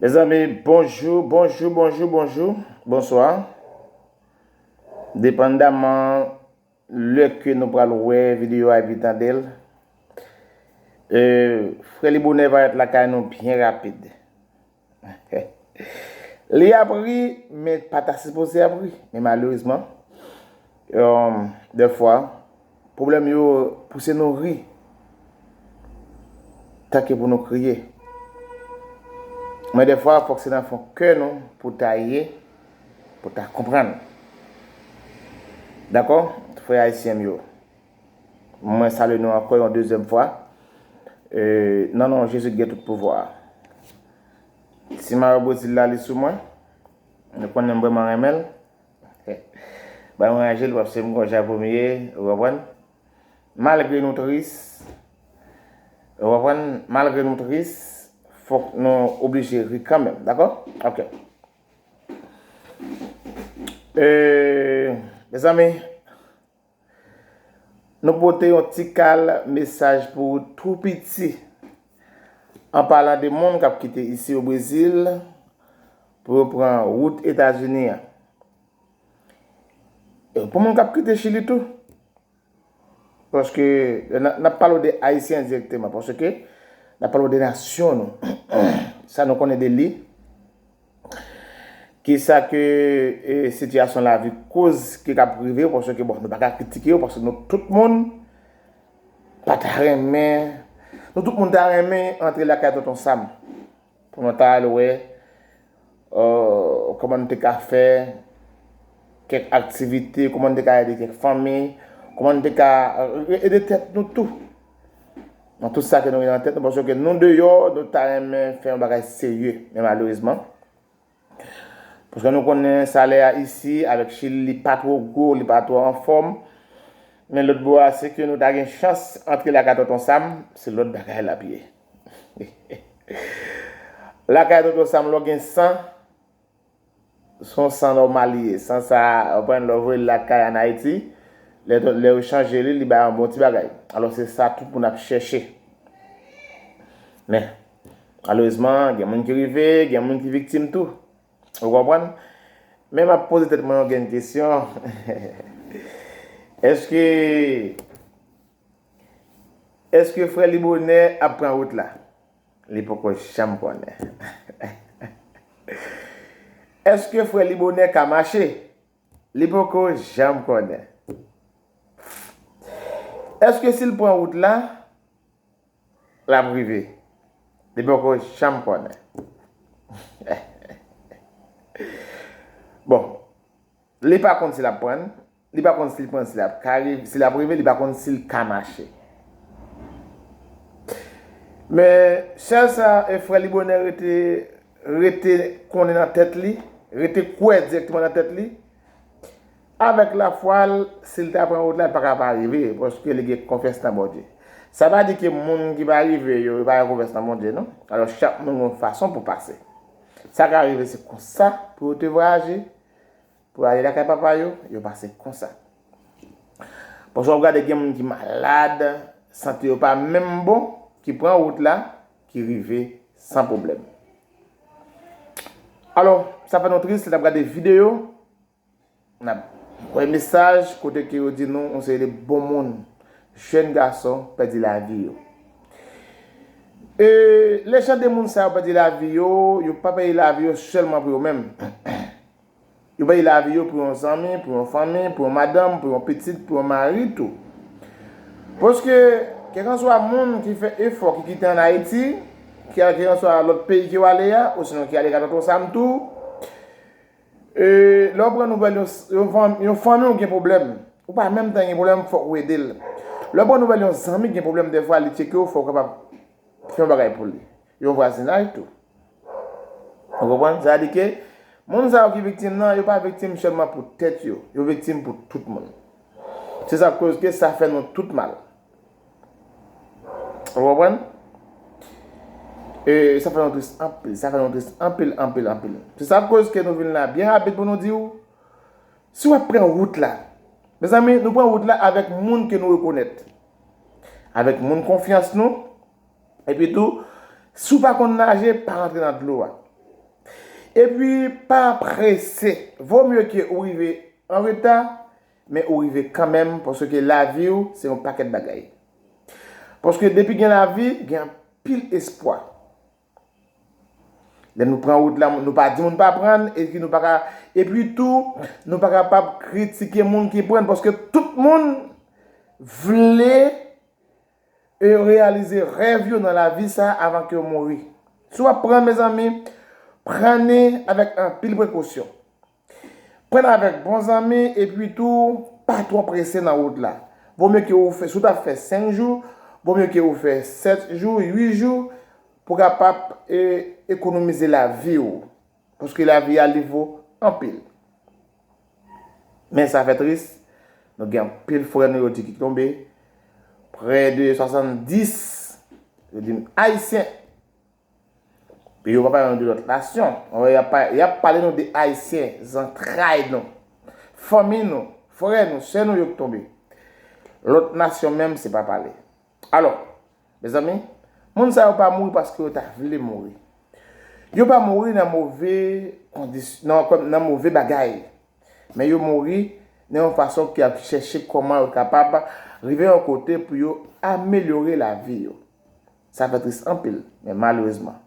Mezanmi bonjou, bonjou, bonjou, bonjou, bonswa. Depandaman lè ke nou pral wè videyo a epi tande l, Frelibonè va èt lakay nou byen rapid. Li ap ri men pa ta sipoze ap ri men malerezman dè fwa pwoblèm yo pouse nou ri tanke pou nou kriye men dè fwa fòk se nan fon kè nou pou ta ye pou ta konprann dakò frè ayisyen m yo. Mwen salye nou ankò yon dezyèm fwa nan non Jezi ki gen tout pouvwa a. Ti mayo Brezil la li sou mwen. Nou konnen m vrèman renmen l. Ba m ranje l paske m konn jan pou m ye, ou konprann. Malgre nou tris, ou konprann, malgre nou tris, fòk nou oblije ri kanmenm. Dakò? Ok. Mezanmi. Nou pote yon ti kal mesaj pou ou tou piti, an palan de moun k ap kite isi o Brezil pou yo pran wout Etazini an. E pou moun k ap kite Chili tou. Paske, n ap pale ou de Ayisyen direkteman, paske, n ap pale ou de nasyon nou, sa nou konnen de li. Ki sa ke sitiyasyon lavi koz ki kab rive yo paske bon nou pa ka kritike yo paske nou tout moun pa ta renmen nou tout moun ta renmen antre lakay Tonton Sam pou nou ta al wè kòman nou te ka fè kèk aktivite, kòman nou te ka ede kèk fanmi, kòman nou te ka ede tèt nou tou. Nan tout sa ke nou gen nan tèt nou, panse ke nou deyò, nou ta renmen fè yon bagay serye. Men malerezman, paske nou konnen salè a isi, avèk Chili, li pa twò gwo, li pa twò anfòm. Men lòt bò a, si ke nou ta gen chans antre lakay Tonton Sam, se lòt bagay l ap ye. Lakay Tonton Sam, lè w gen san. Son san nòmal li ye. San sa a, ou konprann, lè ou voye l lakay ann Ayiti, lè ton, lè yo chanje li, li bay yon bon ti bagay. Alò se sa tout moun ap chèche. Men, malerezman, gen moun ki rive, gen moun ki viktim tou. Ou konprann? Men m ap poze tèt mwen yon grenn kesyon, Èske, èske frè Libonè ap pran wout la? Li poko janm konnen. Eske frè libonè ka mache? Li poko janm konnen. Eske si l pran wout la, l ap rive? Li poko janm konnen. Bon, li pa konn si l ap pran l. Li pa konn si l panc la ap ka rive, si l ap rive, li pa konn si l ka mache. Men, sèl sa e frè li bonè rete, rete konnen nan tèt li, rete kwè dirèkteman nan tèt li, avèk lafwa l, si l ta pran wout la, l pa ka pa rive, paske li gen konfyans nan Bondye. Sa pa di ke moun ki pa rive yo, yo pa gen konfyans nan Bondye, non. Alò, chak moun gen yon fason pou pase. Sa ka rive se konsa pou yo te vwayaje. Pou yo ale lakay papa yo, yo pase konsa. Pafwa wap gade gen moun ki malad, sante yo pa menm bon, ki pran wout la, ki rive san pwoblèm. Alò, sa fè nou tris lè nap gade videyo, nap wè mesaj kote ke yo di nou yon seri de bon moun, jèn gason pèdi lavi yo. E lè jan de moun sa yo pèdi lavi yo, yo pa pèdi lavi yo sèlman pou yo menm. Yo bay lavi yo pou yon zanmi, pou yon fanmi, pou yon madanm, pou yon pitit, pou yon mari tou. Paske, kèlkanswa moun ki fè efò, ki kite ann Ayiti, ki al kèlkanswa lòt peyi ke w ale a, osinon ki ale ka Tonton Sam tou, e, lè w pran nouvèl yon, yon fanmi w gen pwoblèm, ou pa menm tan gen pwoblèm, fòk ou ede l. Lè w pran nouvèl yon zanmi gen pwoblèm dèfwa li tcheke w fè w kapab fè yon bagay pou li. Yon vwazinaj tou. Ou konprann? Sa di ke moun sa yo ki viktim nan, yo pa viktim sèlman pou tèt yo, yo viktim pou tout moun. Se sa k koz ke sa fè nou tout mal. Ou konprann? E sa fè nou tris anpil, sa fè nou tris anpil, anpil, anpil. Se sa k koz ke nou vin la byen rapid pou nou di ou, si w ap pran wout la, mezanmi nou pran wout la avèk moun ke nou rekonèt, avèk moun konfyans nou. Epi tou, si w pa konn naje, pa rantre nan dlo a. Epi, pa prese. Vo mye ke ou rive an reta, men ou rive kanmenm, paske lavi w se yon pakèt bagay. Paske depi gen lavi, gen anpil espwa. Lè nou pran wout la, nou pa di moun pa pran l, epi nou pa ka, epi tou, nou pa kapab kritike moun ki pran l, paske tout moun vle. E yo reyalize rèv yo nan lavi sa a avan ke yo mouri. Si w ap pran, mezanmi, pran ni avèk anpil prekosyon. Pran n avèk bon zanmi epi tou pa twò prese nan wout la. Vo mye ke ou fè, si w t ap fè 5 jou, vo mye ke ou fè 7 jou, 8 jou, pou kapab ekonomize lavi ou. Paske lavi a li vo anpil. Men sa fè tris, nou gen anpil frè nou yo di ki tonbe, prè de 70, yo di m Ayisyen. Epi yo pa pale nou de lòt nasyon. Ou wè y ap pale nou de Ayisyen, zantray nou, fanmi nou, frè nou, sè nou yo ki tonbe. Lòt nasyon menm se pa pale. Alò, mezanmi, moun sa yo pa mouri paske yo ta vle mouri. Yo pa mouri nan move kondisyon, nan kòm, nan move bagay. Men yo mouri nan yon fason ki ap chèche kòman yo kapab rive yon kote pou yo amelyore lavi yo. Sa fè tris anpil, men malerezman.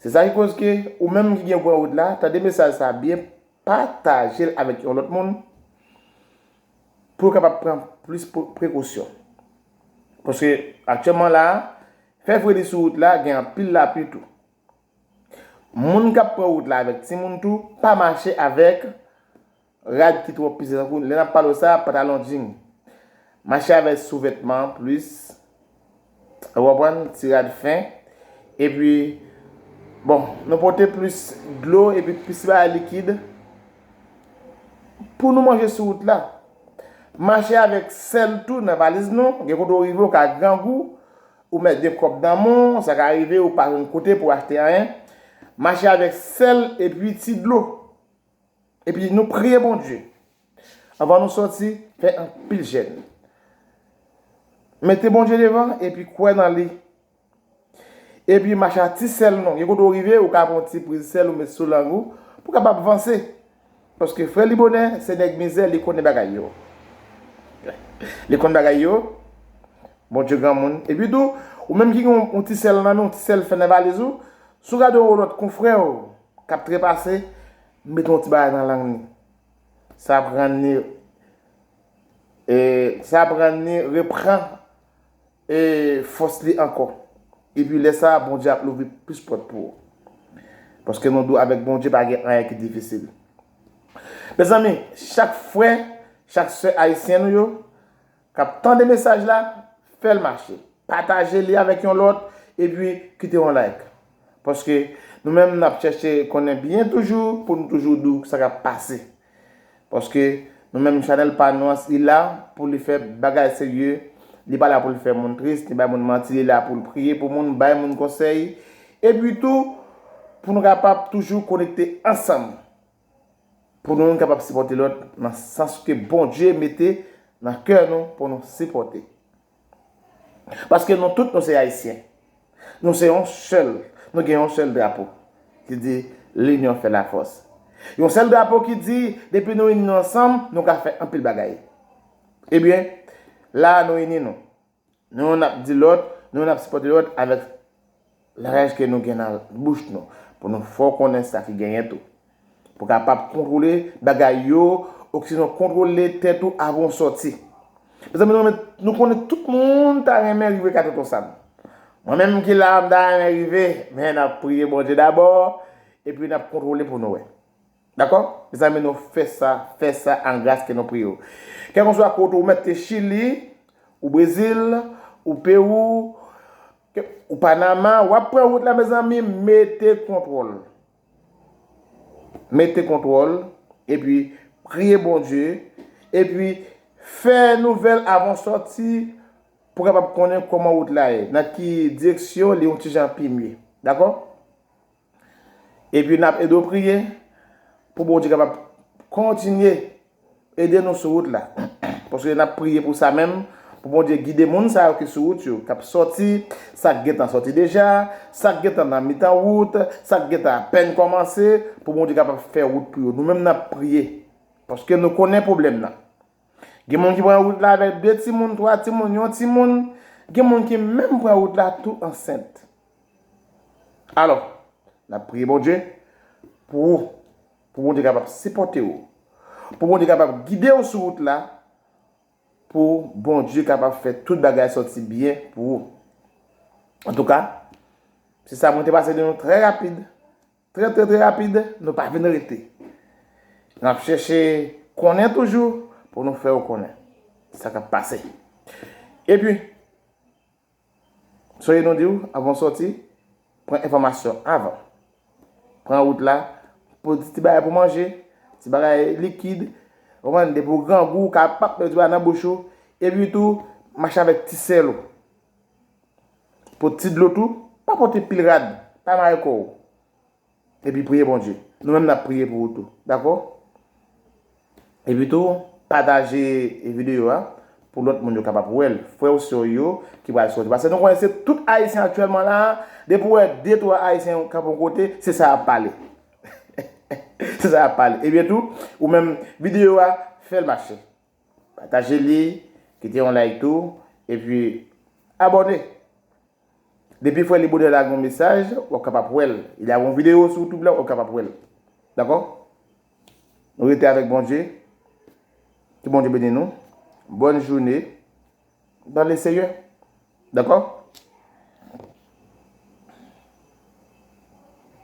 Se sa ki koz ke, ou menm ki gen Gwanwood la, tande mesaj sa byen, Patajel avèk yon lòt moun pou yo kapab pran plis prekosyon. Paske aktyèman la a, fè fredi sou wout la gen anpil lapli tou. Moun k ap pran wout la avèk timoun tou, pa mache avèk rad ki twò peze tankou lè n ap pale w sa, patalon jing. Mache avèk souvètman plis. Ou konprann? Ti rad fen. E pi, bon, nou pote plis dlo e pi plis bagay likid pou nou manje sou wout la. Mache avèk sèl tou nan valiz nou, gen kote ou rive ou ka grangou, ou mèt gen kòb nan men w, sa ka rive ou pa jwenn kote pou achte anyen. Mache avèk sèl e pi ti dlo. Epi nou priye Bondye. Anvan nou sòti, fè anpil jèn. Mete Bondye devan epi kwè nan li. Epi mache a ti sèl nou. Gen kote ou rive, ou ka pran yon ti priz sèl ou met sou lang ou pou w kapab vanse. Paske frè Libonè se nèg mizè, li konnen bagay yo. Li konn bagay yo. Bondye granmoun. Epi tou, ou menm ki gen yon ti sèl nan men w, ti sèl fè nan valiz ou, si w gade yon lòt konfrè w, K ap trepase, mete yon ti bagay nan lang ni. Sa ap rann ni e sa ap rann ni repran e fòs li ankò. Epi lè sa a Bondye ap louvri plis pòt pou ou. Paske nou dou avèk Bondye pa gen anyen ki difisil. Mezanmi, chak frè, chak sè ayisyen nou yo. Kap tande mesaj la fèl mache pataje li avèk yon lòt epi kite yon like paske nou menm nap chèche konnen byen toujou pou nou toujou di w sa kap pase paske nou menm chanèl pa nou an li la pou li fè bagay serye li pa la pou l fè moun tris ni bay moun manti li la pou l priye pou moun bay moun konsèy epi tou pou nou kapab toujou konekte ansanm. Pou nou youn kapab sipòte lòt nan sans ke Bondye mete nan kè nou pou nou sipòte. Paske nou tout nou se Ayisyen. Nou se yon sèl, nou gen yon sèl drapo ki di L'union fait la force. Yon sèl drapo ki di depi nou ini nou ansanm nou ka fè anpil bagay. Ebyen, la a nou ini nou. Nou youn ap di lòt, nou youn ap sipòte lòt avèk langaj ke nou gen nan bouch nou, pou nou fè w konnen sa ki genyen tou. Pou w kapab kontwole bagay yo, oksinon kontwole tèt ou avan w sòti. Mezanmi nou renmen, nou konnen tout moun ta renmen rive ka Tonton Sam. Mwen menm ki la a m ta renmen rive, men n ap priye Bondye dabò, epi n ap kontwole pou nou wè. Dakò? Mezanmi nou fè sa, fè sa an gras ke nou pri yo. Kèlkonswa kote ou mèt te Chili, ou Brezil, ou Pewou, ou Panama, w ap pran wout la mezanmi mete kontwòl. Mete kontwòl, epi priye Bondye, epi fè nouvèl avan w sòti pou w kapab konnen kòman wout la ye, nan ki direksyon li yon ti jan pi mye. Dakò? Epi nap ede w priye pou Bondye kapab kontinye ede nou sou wout la. Paske nap priye pou sa menm, pou Bondye gide moun sa yo ki sou wout yo, kap sòti, sa k gentan sòti deja, sa k gentan nan mitan wout, sa k gentan apèn kòmanse, pou Bondye kapab fè wout pou yo. Nou menm nap priye, paske nou konnen pwoblèm nan. Gen moun ki pran wout la avèk 2 timoun, 3 timoun, yon timoun, gen moun ki menm pran wout la tou ansent. Alò, n ap priye Bondye pou ou, pou Bondye kapab sipòte ou, pou Bondye kapab gide ou sou wout la, pou Bondye kapab fè tout bagay sòti byen pou ou. Antouka, se sa mwen te pase de nou trè rapid, trè trè trè rapid, nou pa vin rete. N ap chèche konnen toujou pou nou fè ou konnen sa k ap pase. Epi. Soyez nou diw avan w sòti, pran enfòmasyon avan. Pran wout la, pou ti bagay pou manje, ti bagay likid, ou konprann, depi w grangou ou ka pap met yon ti bagay nan bouch ou, epi tou mache avèk ti sèl ou. Pot ti dlo tou, pa pote pil rad, pa mare kò w. Epi priye Bondye. Nou menm nap priye pou ou tou. Dako? Epi tou pataje video a pou lot moun yo kapab wel. Fre ou se ou yo ki pral soti. Pase nou konnen se tout ayisyen aktyelman la a, depi ou we 2 3 ayisyen kap yon kote, se sa yap pale. Se sa yap pale. Ebyen tou, ou menm video a fel mache. Pataje li, kite yon like tou, epi abòne! Depi frè Libonè lage yon mesaj, w ap kapab wè l. Li lage yon videyo sou YouTube la, w ap kapab wè l. Dakò? Nou rete avèk Bondye. Ke Bondye beni nou. Bòn joune dan le Seyè. Dakò?